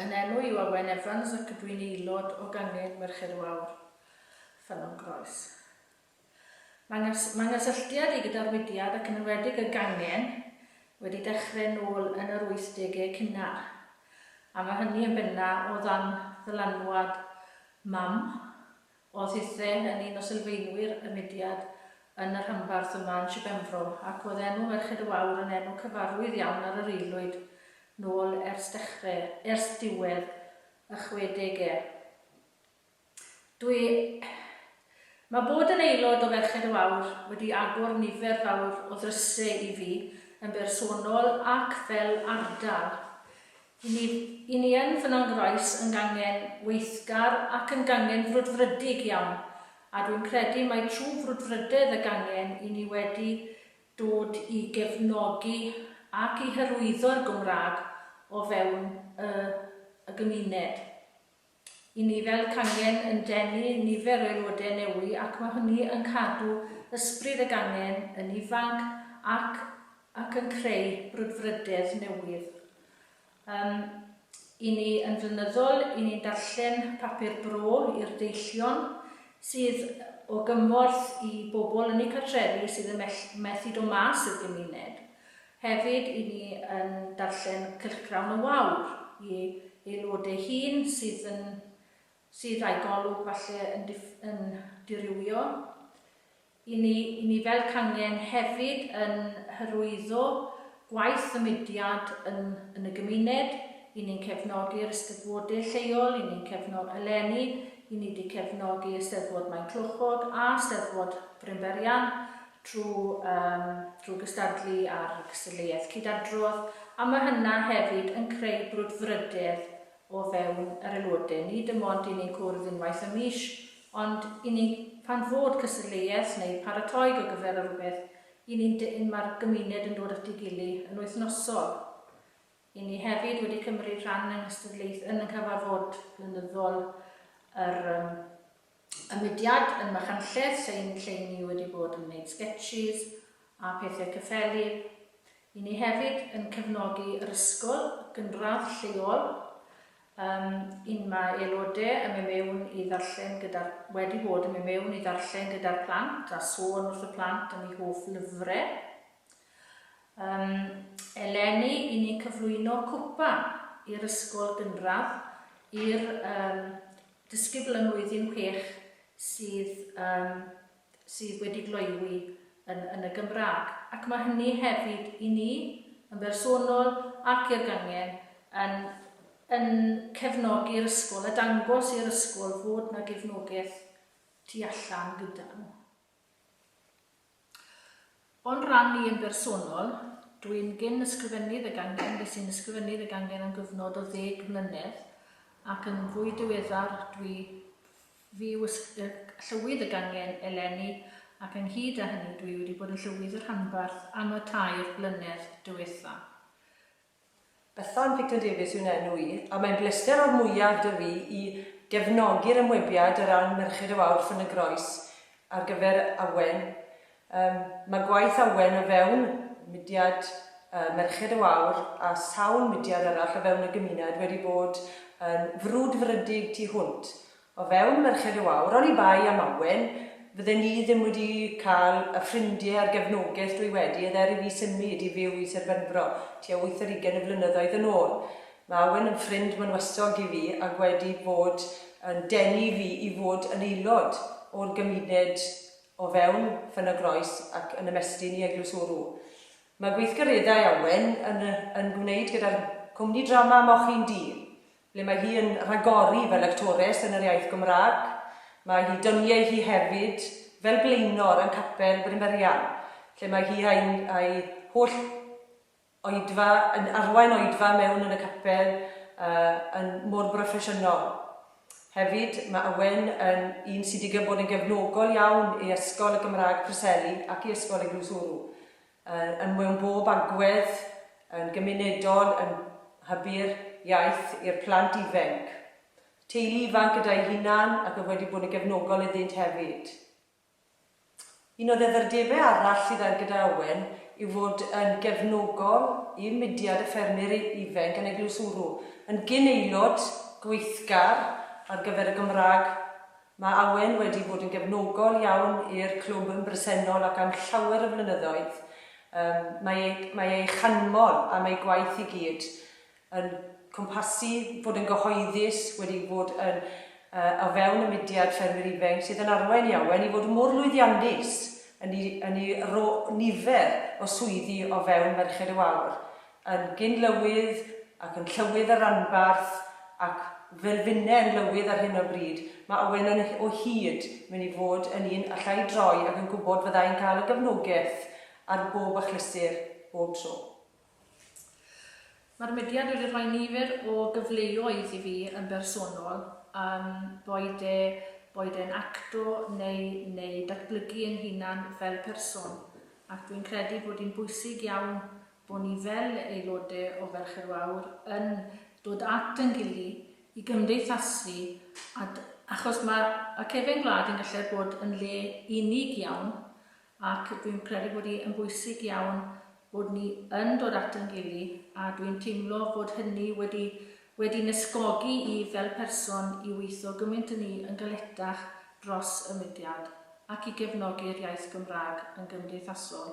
Yn enw i Owen Evans ac ydw i'n aelod o Gangen Merched Wawr, Ffynnon Groes. Mae ngys mae nghysylltiad i gyda'r mudiad ac yn enwedig y gangen wedi dechrau nôl yn yr 80au cynnar, a mae hynny yn benna o ddan ddylanwad mam, Oedd Hythen yn un o sylfaenwyr y mudiad yn y rhanbarth yma yn Shir Benfro, ac oedd enw Merched y Wawr yn enw cyfarwydd iawn ar yr aelwyd nôl ers dechre, ers diwedd y chwedegau. Dwi... Mae bod yn aelod o Ferched y Wawr wedi agor nifer fawr o ddrysau i fi yn bersonol ac fel ardal. Ni, i ni yn fy nangrais yn gangen weithgar ac yn gangen frwdfrydig iawn, a dwi'n credu mai trwy frwdfrydedd y gangen i ni wedi dod i gefnogi ac i hyrwyddo'r Gymraeg o fewn y y gymuned. Y ni fel cangen yn denu nifer o aelodau newy ac mae hynny yn cadw ysbryd y gangen yn ifanc ac ac yn creu brwdfrydedd newydd. Yym, i ni yn flynyddol, i ni'n darllen papur bro i'r deillion sydd o gymorth i bobl yn eu cartrefi sydd yn mell- methu dod mas i'r gymuned. Hefyd, i ni yn darllen cylchgrawn y wawr i aelod ei hun sydd yn sydd a'i golwg falle yn dif yn dirywio. I ni i ni fel cangen hefyd yn hyrwyddo gwaith y mudiad yn yn y gymuned, i ni'n cefnogi'r Eisteddfode lleol, i ni'n cefno-, eleni, i ni 'di cefnogi Eisteddfod Maenclochog a Steddfod Brynberian, trwy gystadlu ar y cystadleuaeth cyd-adrodd, a mae hynna hefyd yn creu brwdfrydedd o fewn yr aelodau, nid dim ond i ni'n cwrdd unwaith y mis, ond i ni, pan fod cystadleuaeth neu paratoi ar gyfer rhywbeth, i ni'n dyn, mae'r gymuned yn dod at ei gilydd yn wythnosol. Ry' ni hefyd wedi cymryd rhan yng nghystadleuth yn y cyfarfod blynyddol yr um, y mudiad yn Machynlleth, sy'n lle ni wedi bod yn gwneud sketches a pethau cyffeli. Ry' ni hefyd yn cefnogi yr ysgol gynradd lleol um, un mae aelodau yn mynd mewn i ddarllen gyda'r, wedi bod yn mynd mewn i ddarllen gyda'r plant a sôn wrth y plant am eu hoff lyfrau. Yym, eleni i ni cyflwyno cwpan i'r ysgol gynradd, i'r yym disgybl yn Mlwyddyn Chwech sydd yym sydd wedi gloywi yn yn y Gymraeg. Ac mae hynny hefyd i ni yn bersonol ac i'r gangen yn yn cefnogi'r ysgol a dangos i'r ysgol fod 'na gefnogaeth tu allan gyda nhw. O'n rhan i yn bersonol, dw i'n gyn-ysgrifennydd y gangen, ges i'n ysgrifennydd y gangen am gyfnod o ddeg mlynedd, ac yn fwy diweddar dw i fu llywydd y gangen eleni, ac ynghyd â hynny dw i wedi bod yn llywydd y rhanbarth am y tair blynedd diwetha'. Bethan Picton Davies yw'n enw i, a mae'n blester o'r mwyaf 'da fi i gefnogi'r ymwebiad o ran Merched y Wawr Ffyn y Groes ar gyfer Awen. Yym, mae gwaith Awen o fewn mudiad yy Merched y Wawr a sawl mudiad arall o fewn y gymuned wedi bod yn frwdfrydig tu hwnt, O fewn Merched y Wawr, oni bai am Awen, fydden ni ddim wedi cael y ffrindie a'r gefnogaeth dwi wedi edd er i fi symud i fyw i Sir Benfro tua wyth ar ugen o flynyddoedd yn ôl. Mae Awen yn ffrind mynwasog i fi ac wedi bod yn denu fi i fod yn aelod o'r gymuned o fewn Ffyn-y-groes ac yn ymestyn i Eglwys Wrw. Mae gweithgareddau Awen yn yn gwneud gyda'r cwmni drama Moch-un-du ble mae hi yn rhagori fel actores yn yr iaith Gymraeg, mae hi dyniau hi hefyd fel blaenor yn Capel Brynferian, lle mae hi a'i a'i holl oedfa yn arwain oedfa mewn yn y capel yy yn mor broffesiynol. Hefyd, mae Owen yn un sy'n digon bod yn gefnogol iawn i Ysgol y Gymraeg Preseli ac i Ysgol Eglwys Wrw. Yn mewn bob agwedd, yn gymunedol, yn hybu'r iaith i'r plant ifenc, teulu ifanc gyda'i hunan ac oedd wedi bod yn gefnogol iddynt hefyd. Un o ddeddfrdebau arall sydd ar gyda Owen yw fod yn gefnogol i mudiad y ffermyr ifenc yn Eglwys Wrw, yn gyn-aelod gweithgar ar gyfer y Gymraeg Mae Awen wedi bod yn gefnogol iawn i'r clwb yn bresennol ac am llawer o flynyddoedd. Yym, mae ei, mae ei chanmol am ei gwaith i gyd yn cwmpasu bod yn gyhoeddus, wedi bod yn yy o fewn y mudiad ffermwyr ifainc sydd yn arwain i Awen i fod mor lwyddiannus yn ei, yn ei ro- nifer o swyddi o fewn Merched y Wawr. yn gyn-lywydd ac yn llywydd y ranbarth ac fel finne yn lywydd ar hyn o bryd, mae Owen yn o hyd mynd i fod yn un alla i droi ac yn gwybod fydda i'n cael y gefnogaeth ar bob achlysur, bob tro. Mae'r mudiad wedi rhoi nifer o gyfleoedd i fi yn bersonol, yym, boed e boed e'n acto neu neu datblygu yn hunan fel person, ac dwi'n credu bod hi'n bwysig iawn bod ni fel aelodau o Ferched Wawr yn dod at yn gily i gymdeithasu a d- achos ma' y cefen gwlad yn gallu bod yn le unig iawn ac dwi'n credu bod hi yn bwysig iawn bod ni yn dod at yn gily a dwi'n teimlo bod hynny wedi wedi nysgogi i fel person i weithio gymaint yn ni yn galetach dros y mudiad ac i gefnogi'r iaith Gymraeg yn gymdeithasol.